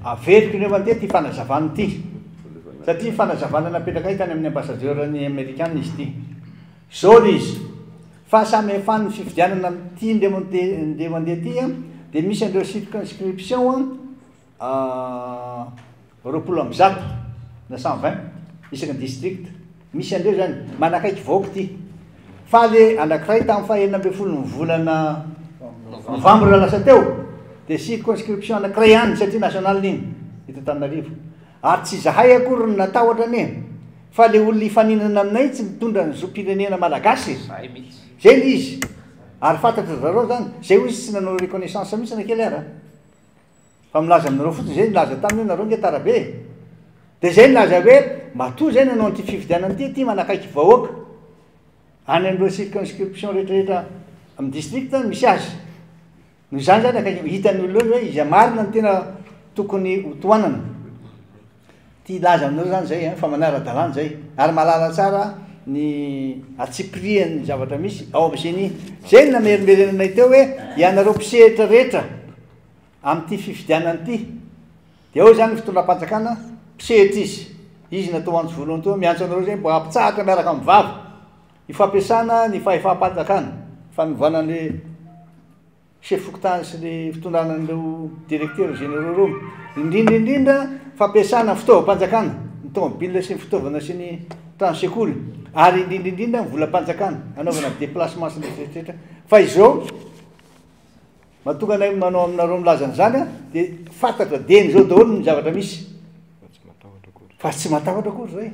Averiko ny eo anty ity fanazavana ity satria fanazavana napetrakay tany amin'ny ambasadiorany amerikana izy ity. Izao ilay izy, fahasamihafan'ny fifidianana amin'ity indreo andeha ho andeha ity dia misy an'ireo circonscription roapolo amby zato na cent vingt isaky ny district. Misy andreo zany manakaiky vahoaka ity. Faly anankiray tamin'ny faha enina ambin'ny folo ny volana novambra lasa teo dia circonscription anankiray ihany ny sehatry ny national iny eto Antananarivo ary tsy izahay akory no natahotra anie fa le olona hifaninana aminay tsy mitondra ny zom-pirenena malagasy zay mihitsy zay le izy ary fantatra zareo zany zay hoy izy tsy nanao reconnaissance mihitsy na kely ara Fa milaza aminareo fotsiny izay nilaza taminy hoe nareo nge tara be e. Dia izay nilaza hoe matoa izay no hanao an'ity fifidianana ity, ity manakaiky vahoaka. Any amin'ireo circonscription rehetrarehetra amin'ny district no misy azy. Noho izany izany akaiky, hitan'ny olona eo hoe iza marina no tena tokony ho tohanana. Ty hilaza aminao zany zay an, fa manara dalàna zay, ary mahalala tsara ny atsipirihan ny zavatra misy ao am geni, zay no namerimberenanay teo hoe ianareo mpisehitra rehetra am ty fifidianana ty, de ao zany ny fitondram panjakana mpisehitra izy, izy natao antso voalohany teo, miantso anareo zay mba ampitsahatra miaraka am vava, ifampiasana ny fahefam panjakana, fanovana le. chef fokontany sy ny fitondrana an'ireo directeurs généraux ireo, indrindra indrindra fampiasana ny fitaovam-panjakana, ny tomobilina sy ny fitaovana sy ny trano sekoly ary indrindra indrindra ny volam-panjakana hanaovana déplacement sy ny rehetra rehetra fa izao mahatonga anay manao aminareo milaza an'izany a dia fantatra dieny izao daholo ny zavatra misy fa tsy matahotra akory zay.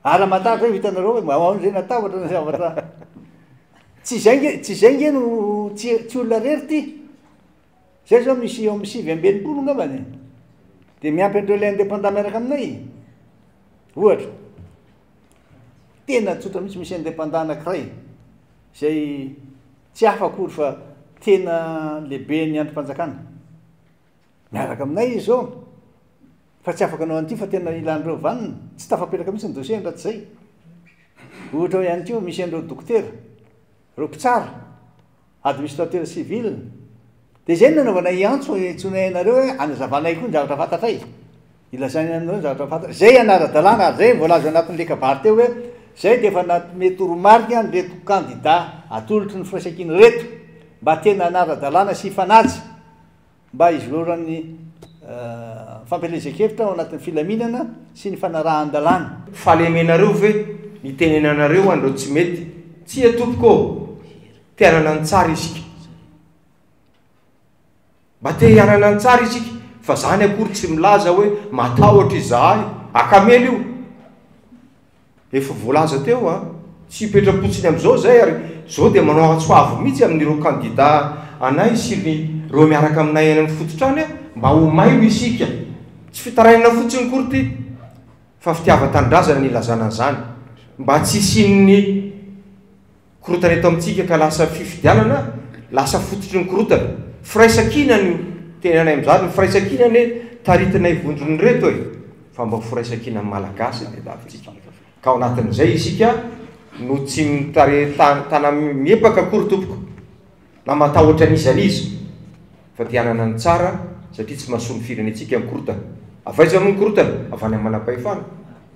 Ara matahotra zay vao hitanareo hoe mba ahoana zay na tahotra ny zavatra tsy izay nge tsy izay nge no tsy tsy olona rery ty zay zao misy eo amin'ny sivy amby enimpolo ngambany dia miampy an'ireo ilay indépendant miaraka aminay ohatra tena tsotra mihitsy misy indépendant anankiray izay tsy hafa akory fa tena lehibe ny andrim-panjakana Miaraka aminay izy zao fa tsy afaka anao an'ity fa tena ilan'ireo vaniny. Tsy tafapelaka mihitsy ny dossier-ny raha tsy izay. Ohatra ao ihany koa misy an'ireo dokotera, ireo mpitsara, administrateur civil. Dia izay no nanaovanay antso hentsoinay anareo hoe anazavanay koa ny zavatra fantatray. Ilazainay aminareo ny zavatra fantatray. Izay ihany ara-dalàna ary izay voalaza ao anatin'ny lekabary teo hoe izay dia efa nanome toromarika an'ireto kandida atolotry ny firaisankina ireto mba tena hanara-dalàna sy hifanaja Mba hizororan'ny fampielezan-kevitra ao anatin'ny filaminana sy ny fanarahan-dalàna. Fahalemenareo ve ny tenenanareo an'ireo tsy mety? Tsia tompoko ô! Te hanana ny tsara isika. Mba te hanana ny tsara isika fa zany akory tsy milaza hoe matahotra izahay. Akamela io. Efa voalaza teo fa tsy hipetra-potsiny amin'izao izay ary izao dia manao antso avo mihitsy amin'ireo kandida anay sy ny ireo miaraka aminay any amin'ny fototrany mba ho mailo isika. Tsy fitarainana fotsiny akory ity fa fitiavan-tanindrazana ny ilazana an'izany mba tsy hisian'ny. Korontana eto amintsika ka lasa fifidianana lasa fototry ny korontana. Firaisankina no tena anay amin'izany, ny firaisankina anie taritinay vondrona ireto e! fa mba ho firaisankinan'ny Malagasy ny tadiavintsika. Ka ao anatin'izay isika no tsy mitarehy tanam-miepaka akory tompoko na matahotra an'iza an'iza fa te hanana ny tsara satria tsy mahasoa ny firenentsika ny korontana. Avy aiza moa ny korontana? Avy any amin'ny manam-pahefana.